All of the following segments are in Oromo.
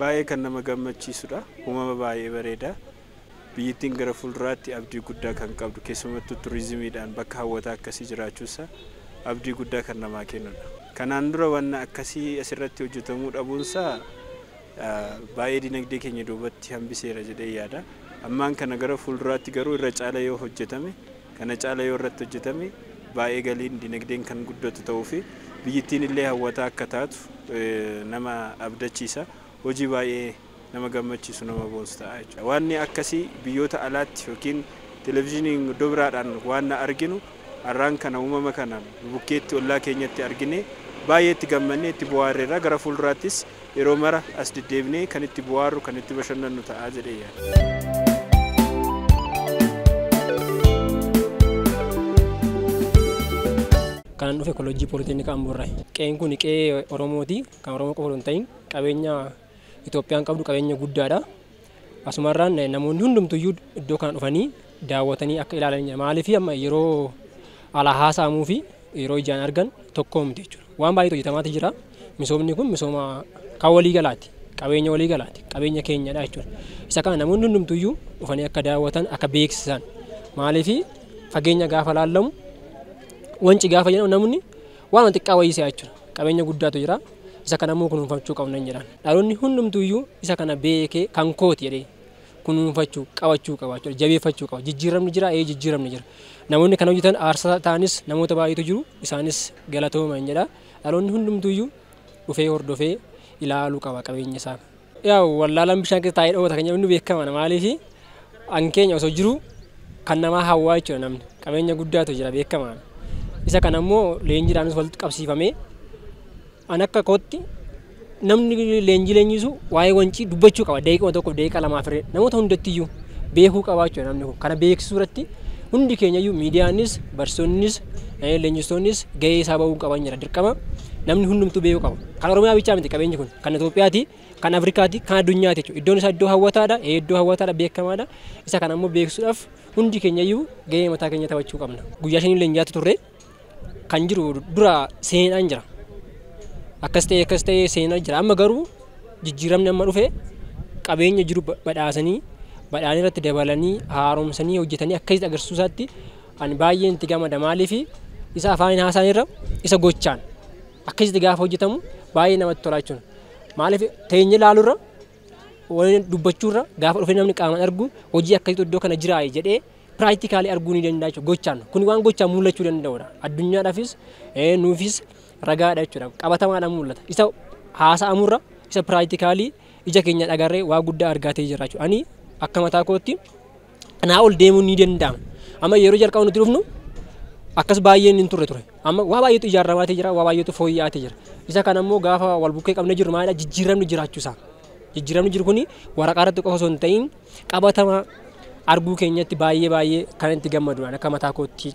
Baay'ee kan nama gammachiisudha. Uumama baay'ee bareeda. Biyyittiin gara fuulduraatti abdii guddaa kan qabdu keessumattuu turizimiidhaan bakka hawwataa akkasii jiraachuunsa abdii guddaa kan namaa kennudha. Kanaan dura wanna akkasii asirratti hojjetamuu dhabuunsaa baay'ee dinagdee keenya duubatti hambiseera jedhee yaada. Ammaan kana gara fuulduraatti garuu irra caala yoo hojjetame, kana caala yoo irratti hojjetame baay'ee galiin dinagdeen kan guddatu ta'uu fi biyyittiin illee hawwataa akka taatu nama abdachiisa. Hojii baay'ee nama gammachiisu nama boonsu ta'a jechuudha. Waanni akkasii biyyoota alaatti yookiin televezyiiniin iddoo biraadhaan waanna arginu Arraan kana uumama kana nu bukkeetti ollaa keenyatti arginee baay'ee itti gammannee itti bohaarreerra. Gara fuulduraattis yeroo mara as deddeebinee kan itti bohaarru, kan itti bashannannu ta'a jedhee yaada. Kanan dhufe Kolleejjii Pooliteeknika Amboorraayi. Qe'een kun qe'ee Oromooti. Kan Oromoo qofa osoo hin ta'iin qabeenya. Itoophiyaan qabdu qabeenya guddaadha. Asumarraan namoonni hundumtuyyuu iddoo kana dhufanii daawwatanii akka ilaalanidha. Maaliif amma yeroo alaa haasa'amuu fi yeroo ijaan argan tokkoo miti jechuudha. Waan baay'eetu hojjetamaati jira. Misoomni kun misooma kan walii galaati. Qabeenya walii galaati. Qabeenya keenyadha jechuudha. Isa kana namoonni hundumtuyyuu dhufanii akka daawwatan akka beeksisan. Maaliif fageenya gaafa laallamu wanci gaafa jedhamu namni waan xiqqaa wayii se'a jechuudha. Qabeenya guddaatu jira. Isa kana immoo kunuunfachuu qabna hin jedhaan. Dhaloonni hundumtuu iyyuu isa kana beekee kan kooti jedhee kunuunfachuu, qabachuu qaba jechuudha. Jabeeffachuu qaba. Jijjiiramni jira, ee jijjiiramni jira. Namoonni kana hojjetan aarsaa ta'anis namoota baay'eetu jiru. Isaanis galatooma hin jedha. Dhaloonni hundumtuu iyyuu dhufee hordofee ilaaluu qaba qabeenya isaa. Yaa'u wallaalaan bishaan keessa taa'ee dhoowwata kan jedhamu ni beekama na maaliif an keenya osoo jiru kan namaa hawwaa jechuudha namni qabeenya guddaatu jira beekama isa kana immoo leenjiidhaanis walitti qabsiifamee an akka kootti namni leenjii leenjisu waa'ee wancii dubbachuu qaba daqiiquma tokko daqiiqa lamaa firee namoota hundattiyyuu beekuu qabaa jechuudha namni kun kana beeksisuu irratti hundi keenyayyuu miidiyaanis barsiisonnis leenjistoonnis gahee isaa ba'uu qaban jira dirqama namni hundumtuu beekuu qaba kan oromiyaa bichaa miti qabeenyi kun kan Itoophiyaati, kan Afrikaati, kan addunyaati jechuudha. Iddoon isaa iddoo hawwataadha, ee iddoo hawwataadha beekamaadha. Isa kana ammoo beeksisuudhaaf hundi keenya iyyuu gahee mataa keenya taphachuu qabna. Guyyaa shanii leenji'aatti turre kan jiru dura seenaan jira. Akkas ta'ee akkas ta'ee seenaa jira. Amma garuu jijjiiramni amma dhufe qabeenya jiru ba- badhaasanii badhaanii irratti dabalanii haaromsanii hojjetanii akkasitti agarsiisuu isaatti ani baay'een itti gammada maaliifi isa afaaniin haasaan irra isa gochaan akkasitti gaafa hojjetamu baay'ee namatti tolaa jechuudha. Maaliif teenyee ilaaluurra waliin dubbachuurra gaafa dhufee namni qaamaan argu hojii akkasiitu iddoo kana jiraa jedhee piraaktikaalii arguu ni danda'a jechuudha gochaan. Kun waan gochaan mul'achuu danda'udha. Addunyaadhaafis nuufis ragaadha jechuudha. Qabatamaadhaan mul'ata. Isa haasa'amurra isa piraaktikaalii ija keenyaan agarree waa guddaa argaatee jira jechuudha. Ani akka mataa kootti kanaa ol deemuun ni danda'ama. Amma yeroo jalqaba nuti dhufnu akkas baay'een hin turre ture. Amma waa baay'eetu ijaaramaa jira, waa baay'eetu fooyya'aa jira. Isa kana immoo gaafa wal bukkee qabnee jirru maalidha jijjiiramni jiraachuusaa. Jijjiiramni jiru kuni waraqaa irratti qofa osoo hin ta'in qabatama arguu keenyatti baay'ee baay'ee kan itti gammadudha akka mataa kootti.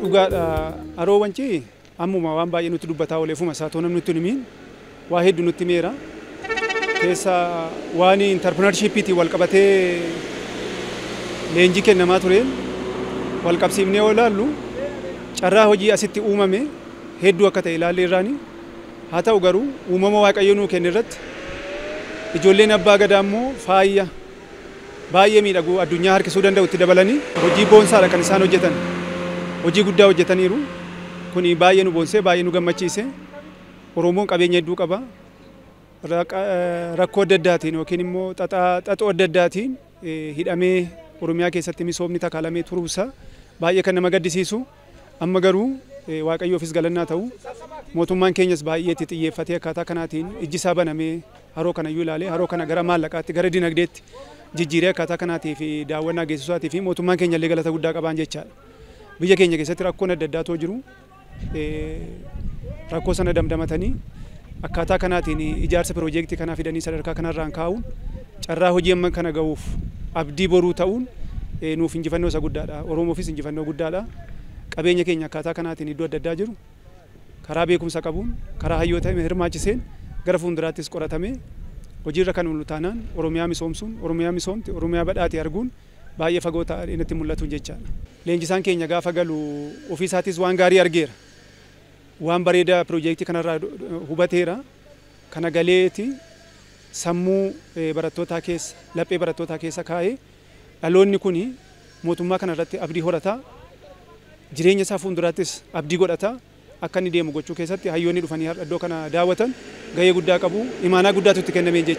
Dhugaadha Haroo Wancii ammuma waan baay'ee nutti dubbataa oole ofuma isaa too namni nutti hin himiin waa hedduu nutti himeera. Keessa waan intarpirinarshiippiitiin wal qabatee leenjii kennamaa tureen wal qabsiifnee yoo ilaallu carraa hojii asitti uumame hedduu akka ta'e ilaallee irraani. Haa ta'u garuu uumama Waaqayyo nuu kenne irratti ijoolleen abbaa gadaa immoo faaya baay'ee miidhagu addunyaa harkisuu danda'u itti dabalanii hojii boonsaadha kan isaan hojjetan. Hojii guddaa hojjetaniiru. Kuni baay'ee nu boonsee baay'ee nu gammachiise. Oromoon qabeenya hedduu qaba. Raqa- eh, Rakkoo adda addaatiin yookiin immoo xaxaa xaxoo adda addaatiin eh, hidhamee Oromiyaa keessatti misoomni takaalamee turuusaa baay'ee kan nama gaddisiisu. Amma garuu Waaqayyoofis galanni haa ta'u, mootummaan keenyas baay'ee itti xiyyeeffatee akkaataa kanaatiin ijji isaa banamee haroo kana iyyuu ilaalee haroo kana gara maallaqaatti, gara dinagdeetti jijjiiree akkaataa kanaatiif daawwannaa geessisuu isaatiif mootummaan keenya illee galata guddaa qabaan jechaadha. Biyya keenya keessatti rakkoon adda addaa otoo jiru rakkoo sana damdamatanii Akkaataa kanaatiin ijaarsa piroojeektii kanaa fidanii sadarkaa kanarraan kaa'uun carraa hojii amma kana ga'uuf abdii boruu ta'uun nuuf injifannoo isa guddaadha. Oromoofis injifannoo guddaadha. Qabeenya keenya akkaataa kanaatiin iddoo adda addaa jiru karaa beekumsa qabuun, karaa hayyoota hirmaachiseen gara fuulduraattis qoratamee hojiirra kan oolu taanaan Oromiyaa misoomsuun, Oromiyaa misoomte, Oromiyaa badhaate arguun baay'ee fagoo ta'ee natti hin mul'atu jechaadha. Leenjisaan keenya gaafa galu ofiisaatis waan gaarii argeera. Waan bareeda pirojeektii kanarraa hubateera. Kana galeeti sammuu barattootaa keessa, laphee barattootaa keessa kaa'ee dhaloonni kuni mootummaa kana irratti abdii horata, jireenya isaa fuulduraattis abdii godhata akka inni deemu gochuu keessatti hayyoonni dhufanii har'a iddoo kana daawwatan gahee guddaa qabu. Imaanaa guddaatu itti kennameen jecha.